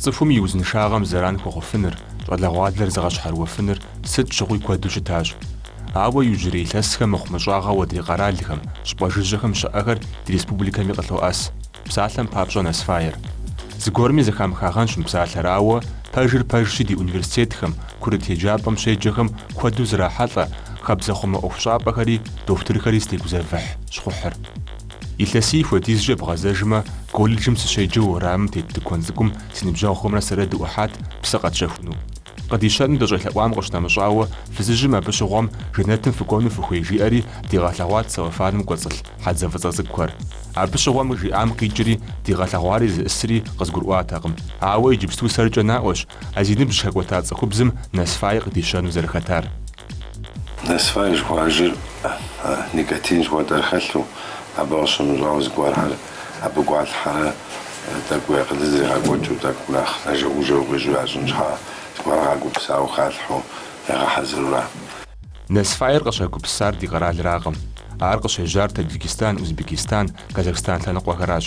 Цӏыхум и узыншагъэм зэран хуэхъуфыныр, щӏалэгъуалэр зыгъэщхьэрыуэфыныр сыт щыгъуи куэду щытащ. Ауэ иужьрей илъэсхэм мыхъумыщӏагъэу адрей къэралхэм, щӏыпӏэ жыжьэхэм щыӏэхэр ди республикэми къылъоӏэс. Псалъэм папщӏэ Насфайр. Зыгуэрми зэхамыхагъэнщ мы псалъэр, ауэ пэжыр пэжщи ди университетхэм, курыт еджапӏэм щеджэхэм куэду зрахьэлӏэ хабзэхъумэ ӏуэхущӏапӏэхэри дохутырхэри зытегузэвыхь щхъухьыр. Илъэсий хуэдизкӏэ бгъэзэжмэ, колледжым сыщеджэу уэрамым тет тыкуэн цӏыкӏум си ныбжьэгъухэмрэ сэрэ дыӏухьат псы къэтщэхуну. Къыдищэну дыщӏелъэӏуам къыщынэмыщӏауэ, фызыжьым абы щыгъуэм жэнэтым фыкӏуэну фыхуей жиӏэри дигъэлъэгъуат целлофаным кӏуэцӏылъ хьэдзэ фӏыцӏэ цӏыкӏухэр. Абы щыгъуэм жиӏам къикӏри, дигъэлъэгъуари зыӏысри къызгурыӏуатэкъым. Ауэ иджыпсту сэркӏэ наӏуэщ а зи ныбжь хэкӏуэта цӏыхубзым Насфай къыдищэну зэрыхэтар. Насфай жыхуаӏэжыр Никотин жыхуэтӏэр хэлъу, абы къыщынэмыщӏауэ зыгуэрхэр Абы гуалъхьэрэ тӏэкӏу уи акъылыр зригъэкӏуэкӏыу, тӏэкӏу нэхъ нэжэгужэ укъищӏу ящӏын щхьа? Зыгуэр къагупсауэ халъхьэу ягъэхьэзырура? Насфайр къыщагупсар ди къэралракъым. Ар къыщежьар Таджикистан, Узбекистан, Казахстан лъэныкъуэхэращ.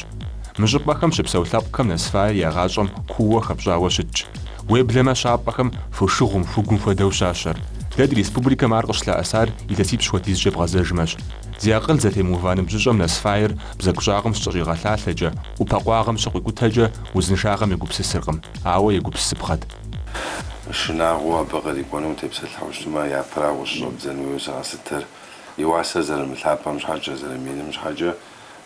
Мы щӏыпӏэхэм щыпсэу лъэпкъхэм Насфайр я гъащӏэм куууэ хэпщӏауэ щытщ. Уеблэмэ щапӏэхэм фошыгъум, хугум хуэдэу щащэр. Дэ ди республикэм ар къыщылъэӏэсар илъэсипщӏ хуэдизкӏэ бгъэзэжмэщ. Зи акъыл зэтемыува ныбжьыщӏэм Насфайр Бзэгущӏагъым щыкӏэщӏигъэлъалъэкӏэ, ӏупэ къуагъым щыкъуикӏутэкӏэ узыншагъэм егупсысыркъым, ауэ егупсысыпхъэт. Шынагъуэу абы кърикӏуэну утепсэлъыхьу щытмэ, япэрауэ щыщӏэбдзэн хуейуэ зыгъэсытыр. И уасэр зэрымылъапӏэм щхьэкӏэ, зэрыминым щхьэкӏэ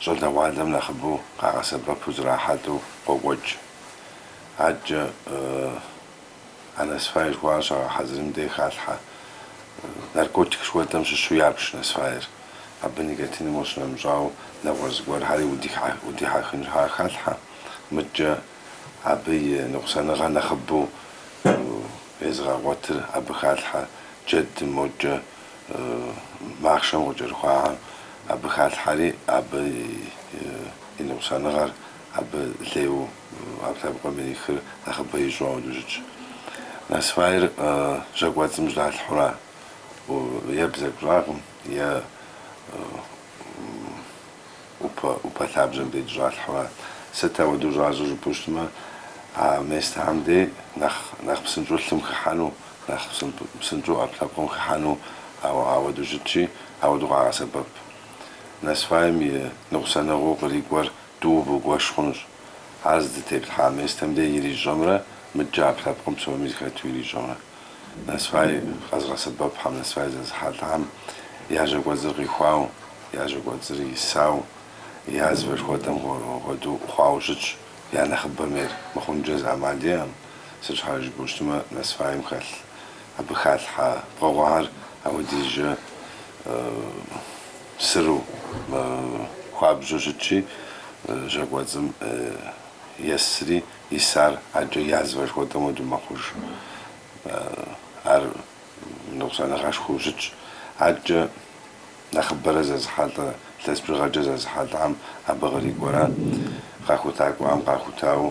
щӏалэгъуалэм нэхъыбэу къагъэсэбэпу зрахьэлӏэу къокӏуэкӏ. Адэкӏэ. А Насфай жыхуаӏэр щагъэхьэзырым дей халъхьэ наркотик жыхуэтӏэм щыщу ябж Насфайр. Абы никотиным къыщынэмыщӏауэ, нэгъуэщӏ зыгуэрхьэри удихьэхын щхьа халъхьэ. Мыдкӏэ абы и ныкъусаныгъэр нэхъыбэу езыгъэгъуэтыр абы халъхьэ, джэдым, мокӏэ махъшэм къыкӏэрыхуахьэм абы халъхьэри, абы и ныкъусаныгъэр Абы лейуэ ӏэпкълъэпкъым ирихыр нэхъыбэ ищӏу ауэдэу щытщ. Насфайр жьакӏуэцӏым жьэдалъхьэура, е бзэгу щӏагъым, е ӏупэ лъабжьэм дей щӏалъхьэура. Сыт ауэдэу щӏащӏыр жыпӏэу щытмэ, а местхьэм дей нэхъ псынщӏэу лъым хыхьэну, нэхъ псынщӏэу ӏэпкълъэпкъым хыхьэну ауэдэу щытщи, ауэдэу къагъэсэбэп. Насфайм и ныкъусаныгъэу кърикӏуэр Тӏууэ бгуэш хъунущ. Ар здытеплъхьа местэм де ирищӏэмрэ мыдкӏэ ӏэпкълъэпкъым псоми зыхэту ирищӏэмрэ. Насвай къэзыгъэсэбэпхэм, Насвай зэзыхьэлӏам я жьэ кӏуэцӏыр къихуауэ, я жьэ кӏуэцӏыр исауэ, язвэ жыхуэтӏэм хуэдэу хъуауэ щытщ, я нэхъыбэм ейр. Мыхъункӏэ зы ӏэмал иӏэкъым, сыт щхьэкӏэ жыпӏэу щытмэ, Насвайм хэлъ, абы халъхьэ пкъыгъуэхэр апхуэдизкӏэ. Сыру хуабжьу щытщи, жьакӏуэцӏым есри, исар адэкӏэ язвэ жыхуэтӏэм хуэдэу мэхъуж. Ар ныкъусаныгъэшхуэу щытщ. Адэкӏэ нэхъыбэрэ зэзыхьэлӏэ, илъэс бжыгъэкӏэ зэзыхьэлӏам абы кърикӏуэра, къахутакӏуэхэм къахутауэ,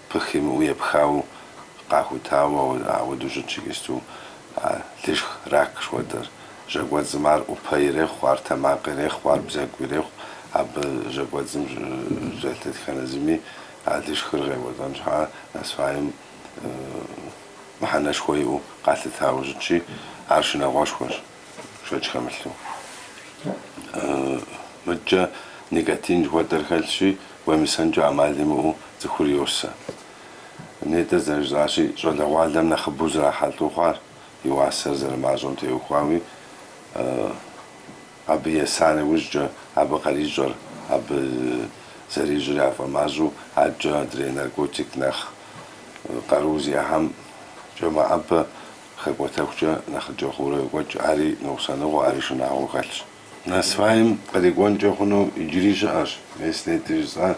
Пых имыӏэу епхауэ къахутауэ ауэдэу щытщ иджыпсту а лышх рак жыхуэтӏэр. Жьакӏуэцӏым ар ӏупэ ирехъу, ар тэмакъ ирехъу, ар бзэгу ирехъу. Абы жьакӏуэцӏым щӏэлъ дэтхэнэ зыми а лышхыр къекӏуэлӏэн щхьа насваем мыхьэнэшхуэ иӏэу къалъытауэ щытщи, ар шынагъуэшхуэщ. шэч хэмылъу. Мыдкӏэ никотин жыхуэтӏэр хэлъщи, уемысэнкӏэ ӏэмал имыӏэу цӏыхур йосэ. Нетӏэ зэрыжраӏащи, щӏалэгъуалэм нэхъыбэу зэрахьэлӏэу хъуар, и уасэр зэрымащӏэм теухуауи, абы еса нэужькӏэ, абы къарищӏэр, абы зэрищӏыр яфӏэмащӏэу адэкӏэ адрей наркотик нэхъ къару зиӏэхэмкӏэ мэӏэбэ Хэкӏуэтэхукӏэ нэхъыкӏэ хъуурэ йокӏуэкӏ, ари ныкъусаныгъэу, ари шынагъуэу хэлъщ. Насваем кърикӏуэнкӏэ хъуну иджыри щыӏэщ, мис нетӏэ жысӏа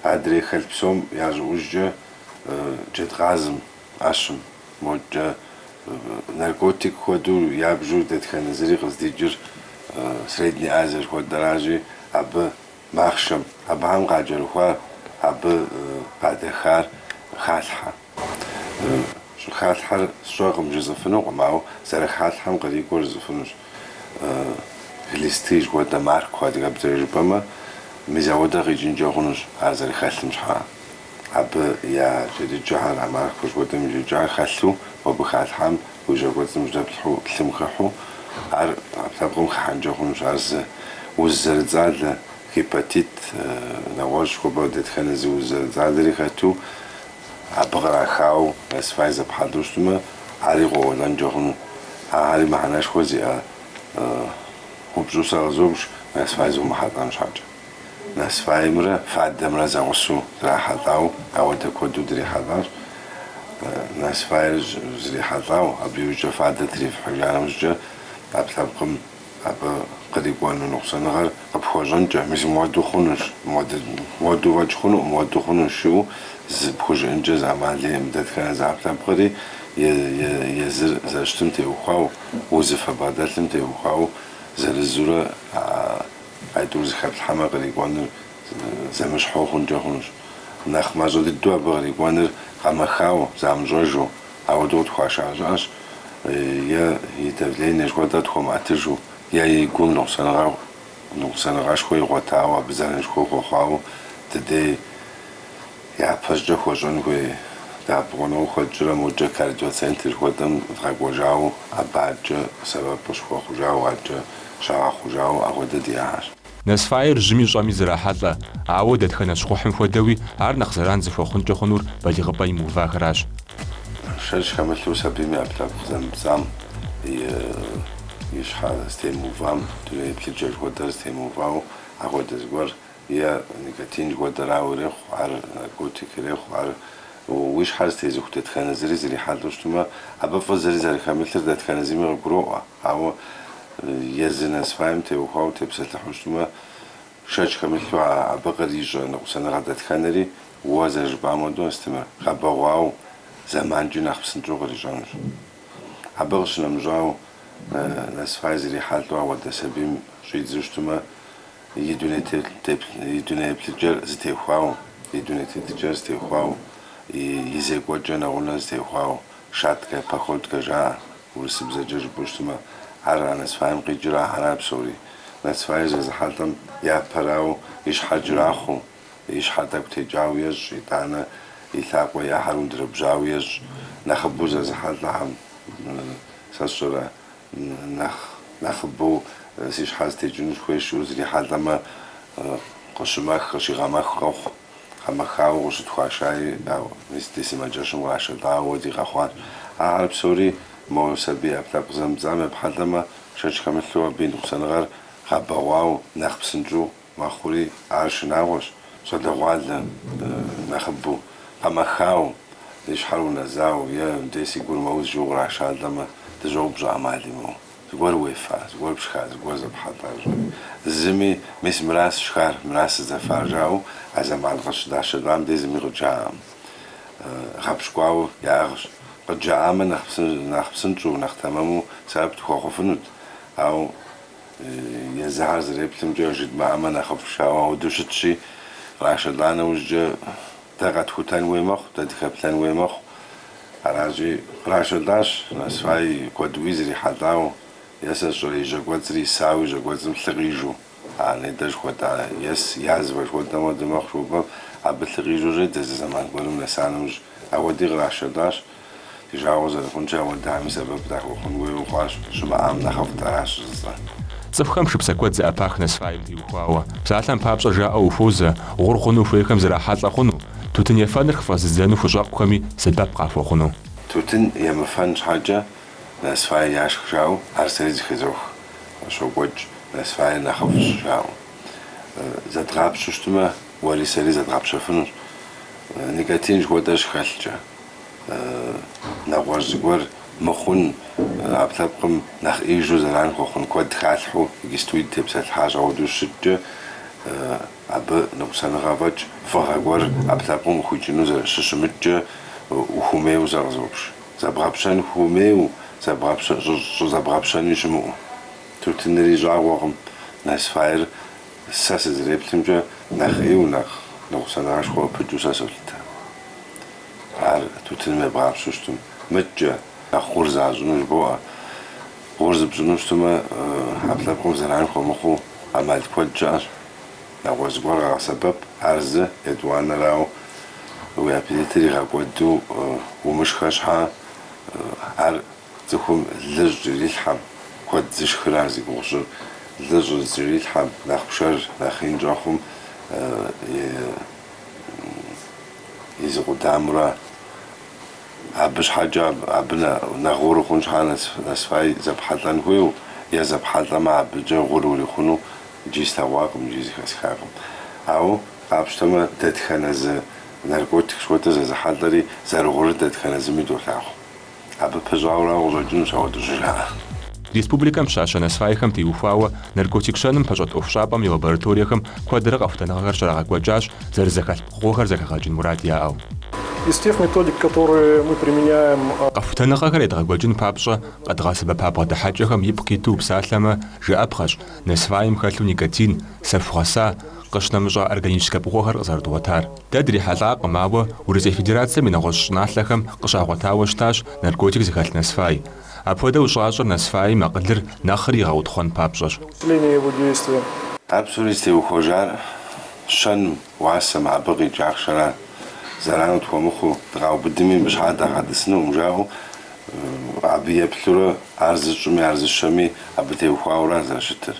адрей хэлъ псом я щӏыӏужкӏэ джэдкъазым, ӏэщым, модкӏэ наркотик хуэдэу ябжу дэтхэнэ зыри къыздикӏыр Средней Азие жыхуэтӏэращи, абы махъшэм, абыхэм къакӏэрыхуар, абы къадэхар халъхьэ. Щӏыхалъхьэр сщӏэкъым жысӏэфынукъым, ауэ зэрыхалъхьэм кърикӏуэр жысӏэфынущ. Глисты жыхуэтӏэм маркуэ адыгэбзэкӏэ жыпӏэмэ, мис ауэдэ къикӏынкӏэ хъунущ ар зэрыхэлъым щхьа. Абы я джэдыкӏэхэр а маркуэ жыхуэтӏэм и джэдыкӏэхэр хэлъу, мобы халъхьам уи жьакӏуэцӏым жьэдэплъхьэу лъым хыхьэу, ӏэпкълъэпкъым хыхьэнкӏэ хъунущ. Ар зы уз зэрыцӏалэ, гепатит, нэгъуэщӏ, хуэпӏэ дэтхэнэ зы уз зэрыцӏалэри хэту, Абы кърахауэ Насвай зэпхьэлӏэу щытмэ, ари къоуэлӏэнкӏэ хъуну. Ахэри мыхьэнэшхуэ зиӏэ упщӏэу сэ къызобж, Насвай зыумыхьэлӏэн щхьэкӏэ. Насваймрэ фадэмрэ зэгъусэу зрахьэлӏауэ, ауэдэ куэду дрихьэлӏащ. Насвайр зрихьэлӏауэ, абы иужькӏэ фадэр трифыхьыжа нэужькӏэ, ӏэпкълъэпкъым Абы кърикӏуэну ныкъусаныгъэр къыпхуэщӏэнкӏэ, мис мыуэду хъунущ, мыуэду фӏэкӏ хъуну, мыуэду хъунущ жыӏэу зыпхужыӏэнкӏэ зы ӏэмал иӏэкъым. Дэтхэнэ зы ӏэпкълъэпкъри езыр зэрыщытым теухуауэ, узыфэ бгъэдэлъым теухуауэ зырызурэ а итӏур зэхэплъхьэмэ, кърикӏуэныр зэмыщхьэу хъункӏэ хъунущ. Нэхъ мащӏэ дыдэу абы кърикӏуэныр къэмэхауэ, замыщӏэжу, Ауэдэу къытхуаша щыӏащ е и давление жыхуэтӏэр тхуэмыӏэтыжу, е и гум ныкъусаныгъэшхуэ игъуэтауэ, абы зэранышхуэ хуэхъуауэ ди дей япэщӏыкӏэ хуэщӏэн хуей дэӏэпыкъуныгъэу хуэтщӏрэ иужькӏэ кардиоцентр жыхуэтӏэм дгъэкӏуэжауэ, абы адэкӏэ сэбэп къыщыхуэхъужауэ, адэкӏэ щагъэхъужауэ апхуэдэ диӏащ. Насвайр жьыми щӏэми зрахьэлӏэ, ауэ дэтхэнэ щхъухьым хуэдэуи ар нэхъ зэран зыхуэхъункӏэ хъунур балигъыпӏэ имыувахэращ. Шэч хэмылъу сабийм и ӏэпкълъэпкъ зэмыпцӏам и щхьэ зэтемыувам, дуней еплъыкӏэ жыхуэтӏэр зэтемыувау апхуэдэ зыгуэр, е никотин хуэдэрауэ ирехъу ар, наркотик ирехъу ар. Уи щхьэр зытезыху дэтхэнэ зыри зрихьэлӏэу щытмэ, абы фӏы зыри зэрыхэмылъыр дэтхэнэ зыми къыгуроӏуэ. Ауэ езы насвайм теухуауэ тепсэлъыхьу щытмэ, шэч хэмылъу а абы кърищӏэ ныкъусаныгъэ дэтхэнэри, уэ зэрыжыпӏам хуэдэу, Астемыр, гъэбэгъуауэ, зэманкӏи нэхъ псынщӏэу кърищӏэнущ. Абы къыщынэмыщӏауэ, насвай зрихьэлӏэу ауэдэ сабийм щӏидзу щытмэ, и дуней еплъыкӏэр зытехуауэ, и дуней тетыкӏэр зытехуауэ, и зекӏуэкӏэ нэгъунэ зытехуауэ, Шаткэ, походкэ жаӏэ, урысыбзэкӏэ жыпӏэу щытмэ, ар а насвайм къикӏыра ахэр псори. Насвай зезыхьэлӏэм япэрауэ и щхьэр кӏрахъуэу, и щхьэр тӏэкӏу текӏауэ ещӏ, итӏанэ и лъакъуэ, ӏэхэр ундэрэбжьауэ ещӏ. Нэхъыбэу зезыхьэлӏэхэм сэ сщӏэрэ, нэхъ нэхъыбэу си щхьэр зытекӏыну сыхуейщ жиӏэу зрихьэлӏэмэ, къыщымэх, къыщигъэмэх къохъу. Къэмэхауэ къыщытхуашаи, ауэ, мис ди сымаджэщым кърашэлӏауэ ауэди къэхъуащ. Ахэр псори мо сабий ӏэпкълъэпкъ зэмыпцӏам епхьэлӏэмэ, шэч хэмылъу абы и ныкъусаныгъэр гъэбэгъуау нэхъ псынщӏэу мэхъури ар шынагъуэщ, щӏалэгъуалэ нэхъыбэу, къэмэхау, и щхьэр унэзау е дей си гур мэуз жиӏэу кърашалӏэмэ, дыщӏоупщӏэ ӏэмал имыӏэу. Зыгуэр уефа, зыгуэр пшха, зыгуэр зэпхьэлӏа? Зыми, Мис мыращ сшхар, мыращ сызэфар, жаӏэу а зэман къыщыдашэлӏам дей зыми къыджаӏэкъым. Гъэпщкӏуауэ яӏыгъщ. Къыджаӏамэ, нэхъ псынщӏэу, нэхъ тэмэму сэбэп дыхуэхъуфынут. Ауэ езыхэр зэреплъымкӏэ, жыдмыӏэмэ нэхъыфӏщ жаӏэу ауэдэу щытщи, кърашэлӏа нэужькӏэ, Дэ къэтхутэн хуей мэхъу, дэ дыхэплъэн хуей мэхъу. Аращи, кърашэлӏащ насфай куэду зрихьэлӏауэ, е сэ сщӏэрэ и жьэ кӏуэцӏри исауэ и жьэ кӏуэцӏым лъы къижу. А нэ дэ жыхуэтӏа ес язвэ жыхуэтӏэм хуэдэ мэхъу жыхуэпӏэм, абы лъы къижу щӏедзэ зы зэман гуэрым нэса нэужь. Апхуэди кърашэлӏащ Ди жагъуэ зэрыхъункӏэ ауэдэми сэбэп дахуэхъун хуейуэ хъуащ, щымыӏам нэхъыфӏт, аращ жысӏэр. Цӏыхухэм шыпсэ куэд зэӏэпах насфайм теухуауэ. Псалъэм папщӏэ жаӏэу ухуозэ, гъур хъуну хуейхэм зрахьэлӏэ хъуну, тутын ефэныр хыфӏэзыдзэну хущӏэкъухэми сэбэп къахуэхъуну. Тутын емыфэн щхьэкӏэ насфайр яшх жаӏэу ар сэри зыхезох, къыщокӏуэкӏ насфайр нэхъыфӏщ жаӏэу. Зэдгъапщэу щытмэ, уэри сэри зэдгъэпщэфынущ, никотин жыхуэтӏэ щыхэлъкӏэ. нэгъуэщӏ зыгуэр мыхъун, ӏэпкълъэпкъым нэхъ ӏеижу зэран хуэхъун куэд халъхьэу иджыстуи дытепсэлъыхьащ, ауэду щыщыткӏэ абы ныкъусаныгъэ фӏэкӏ фӏыгъэ гуэр ӏэпкълъэпкъым къыхуикӏыну зэрыщыщымыткӏэ ухуэмейуэ сакъызопщ. Зэбгъэпщэн хуэмейуэ, щӏызэбгъэпщэни щымыӏэу. Тутынри щӏагъуэкъым, насфайр сэ сызреплъымкӏэ нэхъ ӏейуэ, нэхъ ныкъусаныгъэшхуэ пыкӏыу сэ солъытэ. Ар тутыным ебгъапщэу щытым, мыдкӏэ, нэхъ гъур защӏыну жыбоӏэ. Гъур зыпщӏыну щытымэ, ӏэпкълъэпкъым зэран хуэмыхъуу ӏэмал куэд щыӏэщ. Нэгъуэщӏ зыгуэр къэгъэсэбэп, ар зы, етӏуанэрауэ, уи аппетитыр игъэкӏуэду умышхэ щхьэ, ар цӏыхум лы щӏыкӏэрилъхьэм, куэд зышхыр ар зи гугъу сщӏыр, лы щӏызыкӏэрилъхьэм, нэхъ пшэр нэхъ ин щӏэхъум, е. и зы къудамэра, абы щхьэкӏэ абы нэ, нэхъ гъур ухъун щхьа нас, насфай зэпхьэлӏэн хуейу, е зэпхьэлӏэмэ абыкӏэ гъур урихъуну иджи слъэгъуакъым, иджи зыхэсхакъым. Ауэ къапщтэмэ, дэтхэнэ зы наркотик жыхуэтӏэ зэзыхьэлӏэри зэрыгъурыр дэтхэнэ зыми долъагъу. Абы пыщӏауэ арауэ къыщӏэкӏынущ ауэдэ щӏыжаӏэр. Республикэм щащэ насфайхэм теухуауэ наркотик щэным пэщӏэт ӏуэхущӏапӏэм и лабораториехэм куэдрэ къэхутэныгъэхэр щрагъэкӏуэкӏащ зэрызэхэлъ пкъыгъуэхэр зэхэгъэкӏын мурад яӏэу. Къэхутэныгъэхэр едгъэкӏуэкӏын папщӏэ къэдгъэсэбэпа бгъэдыхьэкӏэхэм ипкъ иту упсалъэмэ, жыӏэпхъэщ, насфайм хэлъу никотин, сэху гъэса, къыщынэмыщӏа органическэ пкъыгъуэхэр къызэрыдгъуэтар. Дэ дрихьэлӏакъым, ауэ Урысей Федерацэм и нэгъуэщӏ щӏыналъэхэм къыщагъуэтауэ щытащ наркотик зыхэлъ Насфай. Апхуэдэу щӏащӏэр Насфайм акъылыр нэхъри игъэутхъуэн папщӏэщ. Для усиления его действия. Ар псори зытеухуэжар щэным, уасэм, абы къикӏ ахъшэра. Зэрану тхуэмыхъуу, дыкъаубыдми, абы щхьа дагъэтӏысынукъым, жаӏэу, абы еплъурэ, ар зыщӏми, ар зыщэми, абы теухуауэ ара зэрыщытыр.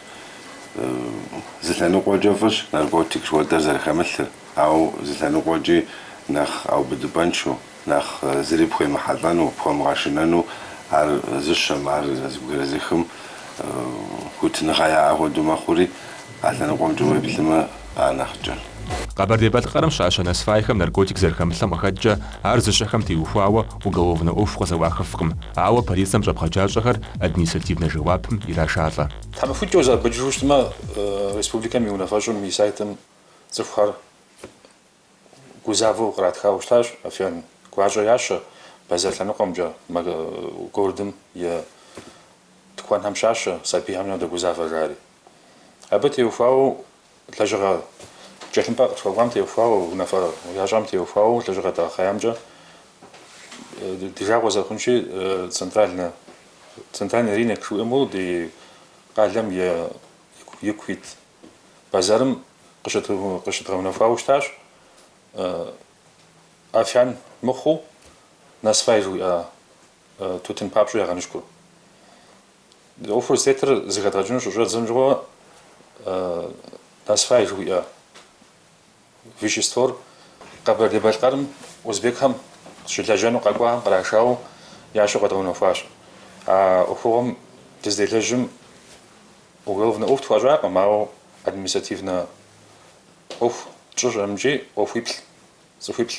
Зы лъэныкъуэкӏэ фӏыщ наркотик жыхуэдэр зэрыхэмылъыр, ауэ зы лъэныкъуэкӏи нэхъ убыдыпӏэншэу, нэхъ зыри пхуемыхьэлӏэну, пхуэмыгъэшынэну ар зыщэм, ар зэбгрызыхым хуитыныгъэ яӏэ хуэдэу мэхъури, а лъэныкъуэмкӏэ уеплъымэ, ар нэхъыкӏэ. Къэбэрдей-Балъкъэрым щащэ насфайхэм наркотик зэрыхэмылъэм къыхэкӏкӏэ, ар зыщэхэм теухуауэ уголовнэ ӏуэху къызэӏуахыфкъым, ауэ полицэм щӏэпхъаджащӏэхэр административнэ жэуапым ирашалӏэ. Тхьэмахуэкӏэ узэӏэбэкӏыжу щытмэ, республикэм и унафэщӏым и сайтым цӏыхухэр гузавэу къратхауэ щытащ. Афиян гуащӏэ ящэ бэзэр лъэныкъуэмкӏэ, городым и тыкуэнхэм щащэ, сабийхэм дэгузавэ жари. Абы теухуауэ Лэжьыгъэ тхылъымпӏэ къытхуэкӏуам теухуауэ, унафэ ящӏам теухуауэ лэжьыгъэ дгъэхъеямкӏэ ди жагъуэ зэрыхъунщи, центральнэ, центральный рынок жыхуиӏэм ди къалэм и ку ит базарым къыщыдгъэунэхуауэ щытащ афиян мыхъуу насвай жыхуиӏэ тутын папщӏэу ягъэныщкӏур. ӏуэхур зытетыр зыхэдгъэкӏыну щыщӏэддзэм щыгъуэ насфай жыхуиӏэ веществор Къэбэрдей-Балъкъэрым узбекхэм щылэжьэну къэкӏуахэм кърашауэ ящэу къэдгъэунэхуащ. А ӏуэхугъуэм дызыделэжьым уголовнэ ӏуэху тхуащӏакъым, ауэ административнэ ӏуэху тщӏыщ амкӏи ӏуэхуиплӏ, цӏыхуиплӏ.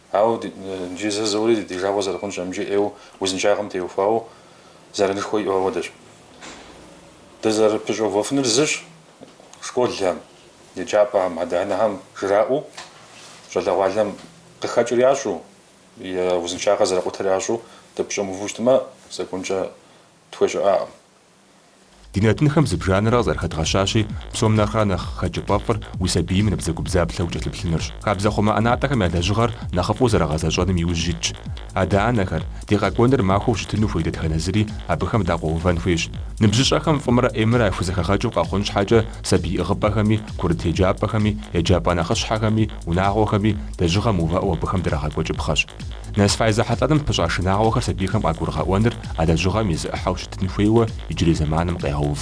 Ауэ иджы зэ жызоӏэри ди жагъуэ зэрыхъунщ амкӏи ӏейуэ узыншагъэм теухуауэ зэранышхуэ иӏэу апхуэдэщ. Дызэрыпыщӏэувэфынур зыщ, школхэм, еджапӏэхэм, адэ-анэхэм жраӏэу, щӏалэгъуалэм къыхэкӏыр ящӏэу, я узыншагъэр зэрыкъутэр ящӏэу дыпыщӏэмыуву щытмэ, законкӏэ тхуещӏэ щыӏэкъым. Ди нэтынхэм зыбжанэрэ къызэрыхэдгъэщащи, псом нэхърэ нэхъ хэкӏыпӏэфӏыр уи сабийм набдзэгубдзаплъэу укӏэлъыплъынырщ. Хабзэ хъумэ ӏэнатӏэхэм я лэжьыгъэр нэхъыфӏу зэрагъэзэщӏэным и ужь итщ. Адэ-анэхэр, ди къэкӏуэныр махуэу щытыну хуей дэтхэнэ зыри абыхэм дакъуэувэн хуейщ. Ныбжьыщӏэхэм фӏымрэ ӏеймрэ яхузэхэгъэкӏыу къэхъун щхьэкӏэ сабий ӏыгъыпӏэхэми, курыт еджапӏэхэми, еджапӏэ нэхъыщхьэхэми, унагъуэхэми, лэжьыгъэ мыувыӏэу абыхэм драгъэкӏуэкӏыпхъэщ. Насфай зехьэлӏэным пыщӏа шынагъуэхэр сабийхэм къагурыгъэӏуэныр а лэжьыгъэм и зы ӏыхьэу щытын хуейуэ иджырей зэманым къегъэув.